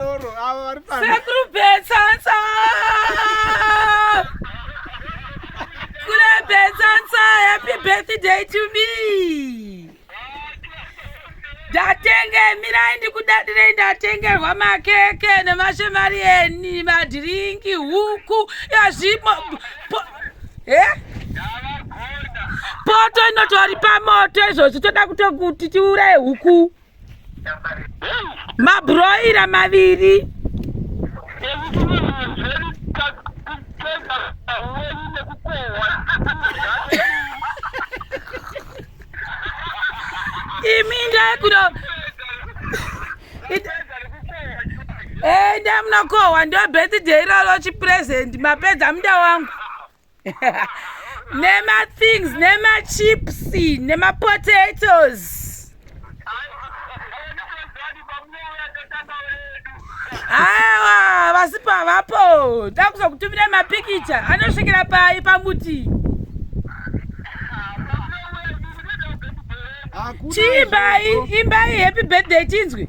Sekuru Betsatsa! Kule Betsatsa, happy birthday to me! Ndatenge, mirai ndikudadirei ndatengerwa makeke nemashemari eni, madhiringi, huku, yazvimo... Eh? Poto inotori pamoto izvozvi toda kutokuti tiuraye huku. mabhuroira maviri imi ndaikuda enda munokohwa ndo birthday iroro chipresent mapedza muda wangu nemathings nemachips nemapotatoes awa vasi pavapo takuza kutumira mapikicha anosvikira pai pamuti chiimbai imbai happy birthday chinzwi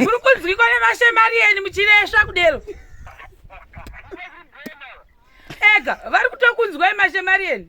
uri kunzwikwa nemashemari eni muchiresva kudero ega vari kutokunzwai mashemari eni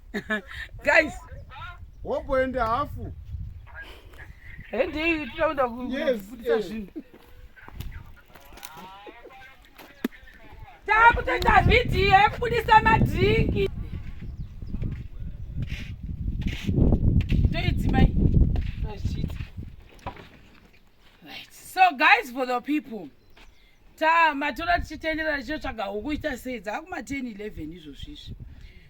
guys womboenda hafu hendei tinoenda kufundisa eh. zvinhu takutoita vhidhiyo yekubudisa madrinki toidzimai so guys for the people ta matora tichitenderera tichitsvaga huku ita sei dzakuma 10 11 izvozvizvi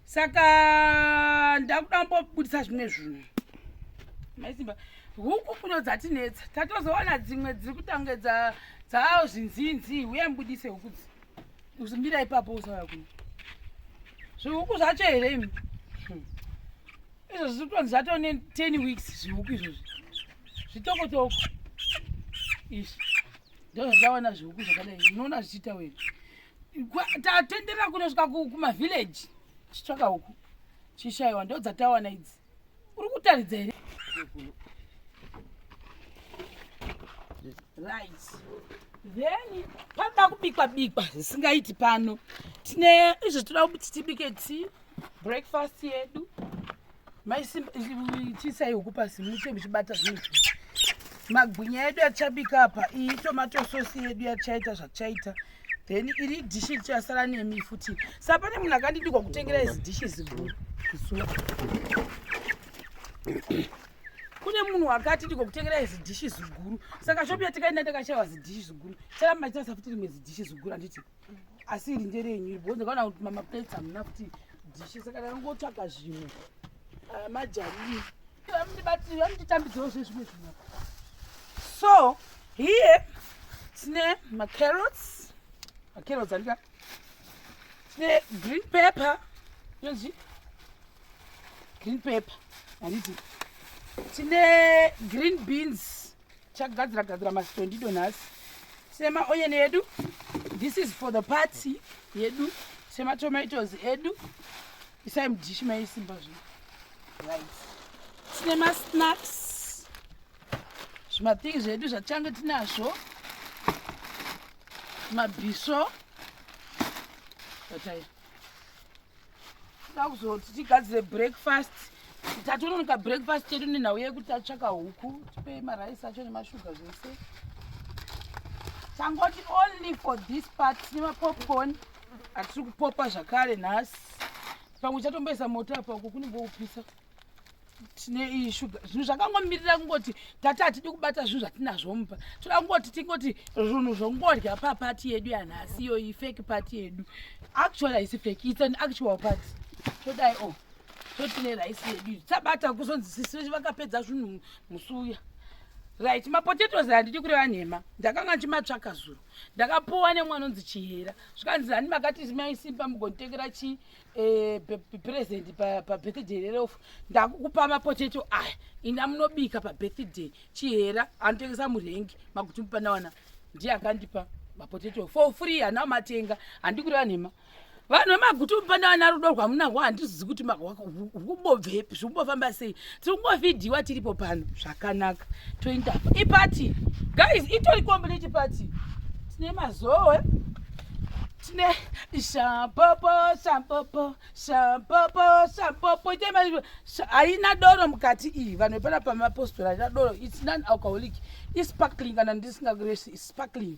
saka ndakuda mbobudisa zvimwe zvinhu maisimba huku kuno dzatinetsa tatozowana dzimwe dziri kutange dzaawo zvinzinzi uye mbudise huku dzi uzimbira ipapo usauya kuno zvihuku zvacho here imi hmm. izvo zviri kutonzi zvatone 10 weeks zvihuku izvozvi zvitokotoko izvi ndozvaona zvihuku zvakadai unoona zvichiita wena tatenderera kunosvika kumavillage chitsvaka huku chishaiwa ndodzatawana idzi uri kutaridza here right then panoda kubikwa bikwa zvisingaiti pano tine izvo tinoda kuti tibike ti breakfast yedu maisimbaitisai huku pasi mute muchibata zvinhu magwinya yedu yachabika apa iyi tomato sosi yedu yachaita zvachaita then iri dishi richasara nemi futi sa pane munhu akandidikwa kutengera izi dishi ziguru kune munhu wakati ndiko kutengera zidhishi ziguru saka shopi yatikaenda takashaiwa zidhishi ziguru chara maita safuti rimwe zidhishi ziguru handiti asi iri nderenyu iri bhozi kana kuti mamaplates hamuna kuti dhishe saka ndangotsvaga zvimwe ah, majarii vamundibatiri vamunditambidzirawo zve zvimwe zvimwe so here tine macarrots macarrots andika tine green paper yonzi green paper handiti tine green beans chagadzira gadzira masitondido nhasi sema oyen yedu this is for the party yedu sema tomatoes edu isai mudishi maisimba zvi right tine masnacks zvimathing zvedu zvatange tinazvo mabhiso batai takuzoti tigadzire breakfast tatononoka breakfast chedu nenhau yekuti tatsvaka huku tipei maraisi acho nemashuga zvese tangoti only for this part tine mapopcorn atiri kupopa zvakare nhasi pamwe chatomboisa moto apa uko kunenge kupisa tine iyi shuga zvinhu zvakangomirira kungoti tati hatidi kubata zvinhu zvatinazvo mupa toda kungoti tingoti zvinhu zvongorya papati yedu yanhasi iyoyi fake pati yedu actual haisi fake its an actual pati todai o oh, totine raisi yedu iyi tabata kuzonzi sisi vakapedza zvinhu musuya right mapotatoes handidi kureva nhema ndakanga ndichimatsvaka zuro ndakapuwa nemwana onzi chihera zvikanzi hani makati maisimba mugonditekera chii eh, present pabirthday rerofu ndakukupa mapoteto aya ina munobika pabirthday chihera anotengesa murengi makuti mupanawana ndiye akandipa mapoteto for free hana matenga handikureva nhema vanhu vemagutu mupanawana rudo rwamunango handizizi kuti kubobvepi zvikumbofamba sei tiri kungovhidhiwa tiripo pano zvakanaka toinda ipati guys itori complete pati tine mazowe tine shapopo shapopo shapopo shapopo haina doro mukati iyi vanhu vepana pamapostora haina doro its non alcoholic isparkling kana ndisingakuresi isparkling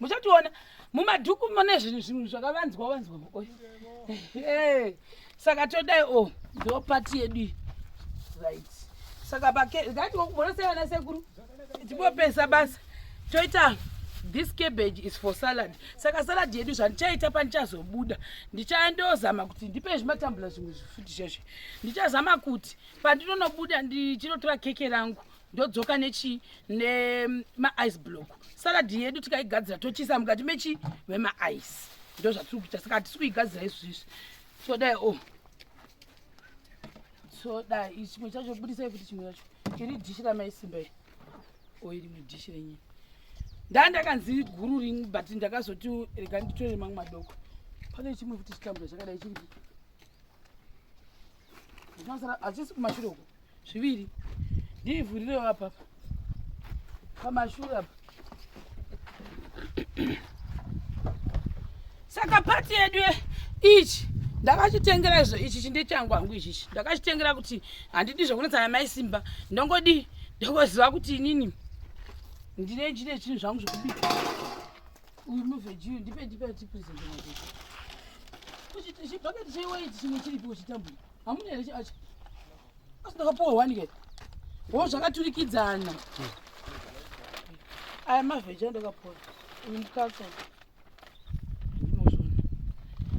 muchationa mumadhuku mune zvinhu zvinhu zvakavanzwa wanzwa makoyo eh, saka todai o oh, ndo pati yedu right saka pakatiwakumona sei vana sekuru tipopesa basa toita this cabbage is for salad saka salad yedu zvandichaita pandichazobuda ndichandozama kuti ndipe zvimatambula zvimwe zvifuti zvazve ndichazama kuti pandinonobuda ndichinotora keke rangu ndodzoka nechii nemaice block salad yedu tikaigadzira tochisa mukati mechii memaice ndo zvatiri kuita saka hatisi kuigadzira izvi zvizvi todai o oh. todai chimwe chacho budisai kuti chimwe chacho iri dhishi ramaisimba i o oh, iri mudhishi renyini ndaa ndakanzi guru ring but ndakazoti rega nditore mamwe madoko pane chimwe futi chitambura chakadai chii achisi kumashure uko zviviri ndiivhurirewo apa pamashure apa saka pati yedu ichi ndakachitengera izvo ichi chinde changu hangu ichichi ndakachitengera kuti handidi zvekunetsana mai simba ndongodi ndokoziva kuti inini ndine chine chinhu zvangu zvekubika Uyu muveji uyu ndipe ndipe tipresent nacho. Uchi chibhaketi cheiwaiti chimwe chiripi uchitambura. Hamuna here chacho? Asi ndakapuwa wani ke. Wo zvakaturikidzana. Aya maveji andakapuwa. Uyu mukatsa.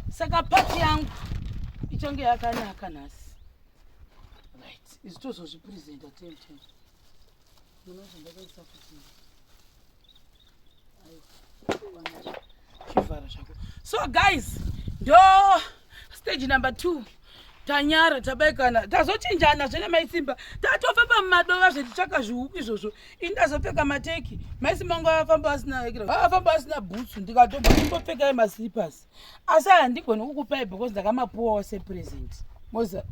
Saka pati yangu ichange yakanaka nhasi. Right. Izvi tozozvipresenta ten ten. so guys ndo stage number two tanyara tabaikana tazochinjana zvene maisimba tatofamba mumadova zvetichaka zvihuku izvozvo ini ndazopfeka mateki maisimba ngo afamba asina afamba asina bhutsu ndikatobva kumbopfekai maslippers asi handigoni kukupai because ndakamapuwawo sepresent moziva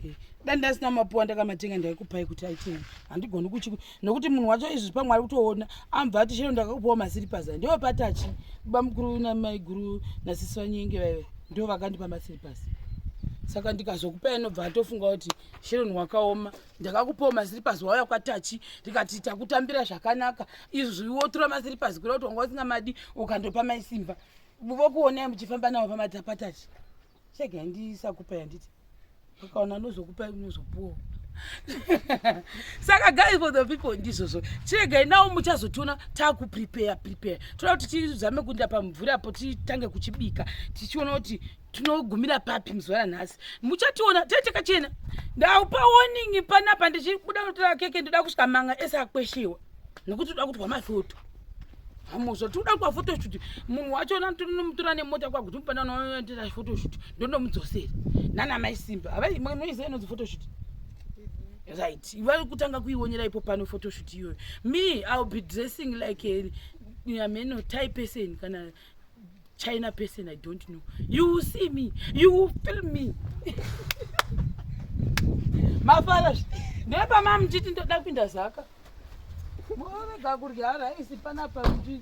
eh, dai ndasina mapuwa ndakamatenga ndaikupai kuti aitei handigoni kuchi nokuti munhu wacho izvi pamwe ari kutoona ambva ati chero ndakakupawo masiripazi ndiwo patachi kuba mukuru namaiguru nasisi vanyenge vaive ndo vakandipa masiripazi saka ndikazokupa anobva atofunga kuti sharon wakaoma ndakakupawo masiripas wauya kwatachi ndikati takutambira zvakanaka izvi wotura masiripas kuda kuti wanga usingamadi ukandopa maisimba vokuonai muchifamba navo pamadzapatachi chega yandisakupa yanditi ukaona anozokupa unozopuwa saka guys for the people ndizvozvo chiregai nawo muchazotiona takuprepare prepare toda kuti tizame kuinda pamvura apo titange kuchibika tichiona kuti tinogumira papi muzuva ranhasi muchationa tee takachena ndaupa warning panapa ndichibuda kunotora keke ndoda kusvika manga ese akweshewa nekuti toda kutwa mafoto hamuzva tikuda kwa photoshoot munhu wacho natonomutora nemota kwa kuti mupanda unoendera photoshoot ndondomudzosera nana mai simba havai noiziva inonzi photoshoot right iva kutanga kuionera ipo pano photoshoot iyoyo me ill be dressing like a, a meno type person kana china person i don't know you will see me you will feel me mafara ndepama muchiti ndoda kupinda zaka movega kurya raisi panapa kuti